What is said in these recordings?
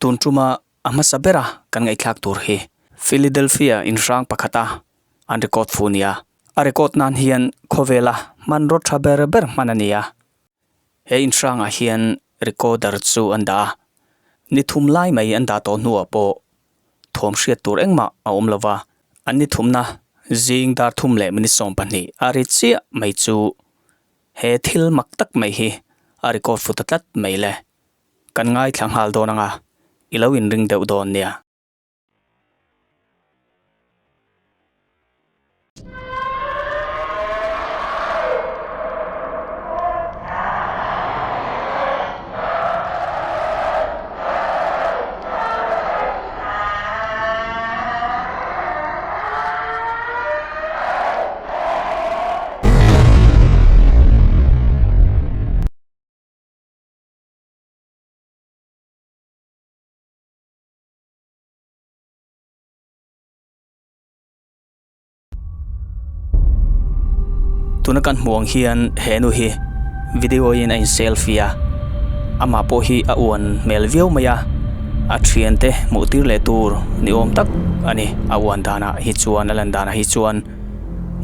Tun ṭuma a hmasa bera kan ngaihthlak tur hi Philadelphia inhrang pakhata an record fu nia. A record nan hian khawvela hmanraw ṭha ber ber hman a nia. He inhrangah hian recorder chu an dah a, ni thum lai mai an dah tawh hnuah pawh thuam hriat tur engmah a awm lova, an ni thumna zing dar thum leh minute sawm pahnih a ri chiah mai chu he thil mak tak mai hi a record fu ta tlat mai le. Kan ngaithla nghal dawn anga i lo inring deuh dawn nia. tuna kan hmuh ang hian he nu hi video in a in selfie a amah pawh hi a uan hmel viau mai a a thiante hmuh tir leh tur ni awm tak a ni a uan danah hi chuan a lan danah hi chuan--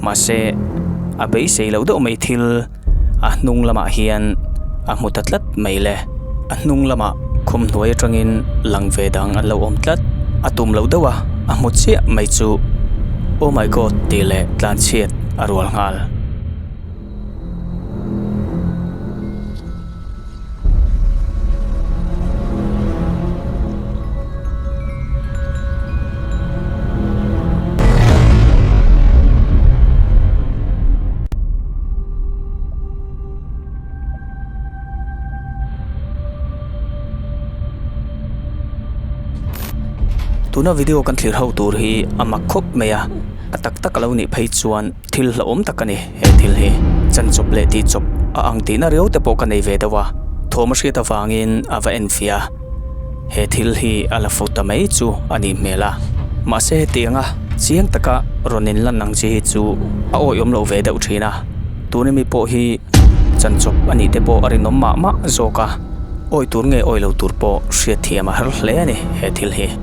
Mahse, a beisei lo deuh mai thil a hnung lamah hian a hmu ta tlat mai le. A hnung lamah khum hnuai atangin lang ve dang an lo awm tlat. A tum lo deuh a, a hmu chiah mai chu. Oh my God tih leh tlanchhiat a rual nghal. tuna video kan thlir ho tur hi a mak khawp mai a a tak tak a lo nih phei chuan-- Thil hlauhawm tak a ni he thil hi. Chanchawp leh tihchawp a ang tihna riau te pawh ka nei ve deuh a, thawm a hriat avangin a va en fia. He thil hi a la fu ta mai chu a nih hmel a. Mahse heti anga chiang taka rawn in lan ang chi hi chu a awiawm lo ve deuh thin a. Tuni mi pawh hi chanchawp a nih te pawh a rinawm mah mah zawk a, awi tur nge awi lo tur pawh hriat thiam a har hle a ni he thil hi.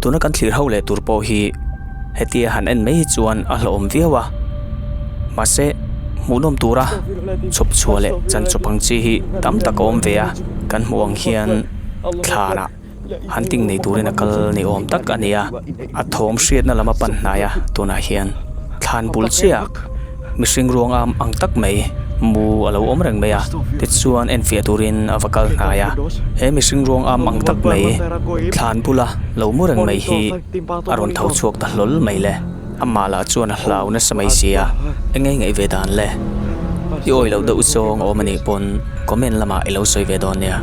Tuna kan thlir ho leh tur pawh hi hetia han en mai hi chuan a hlauhawm viau a, mahse hmuhnawm tura chhawpchhuah leh chanchawp ang chi hi tam tak a awm ve a, kan hmuh ang hian thlanah. hunting nei turin a kal ni awm tak a ni a, a thawm hriatna lama pan hnaia tunah hian thlan bul chiah mihring ruang am ang tak mai mu a lo awm reng mai a tichuan enfiah turin a va kal hnaia he mihring ruang am ang tak mai thlan bula lo mu reng mai hi a rawn tho chhuak ta hlawl mai le. Amah lah chuan a hlau nasa mai sia, eng nge ngaih ve dan le? I awi lo deuh zawng a awm a nih pawn comment lamah i lo sawi ve dawn nia.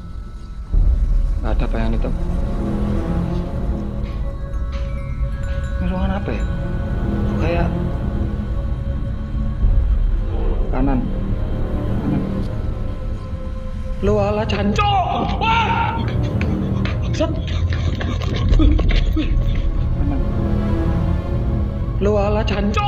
a ta paiang ni tawh mi ruang an happy phai a an an lo a la chan cho sat lo a la chan cho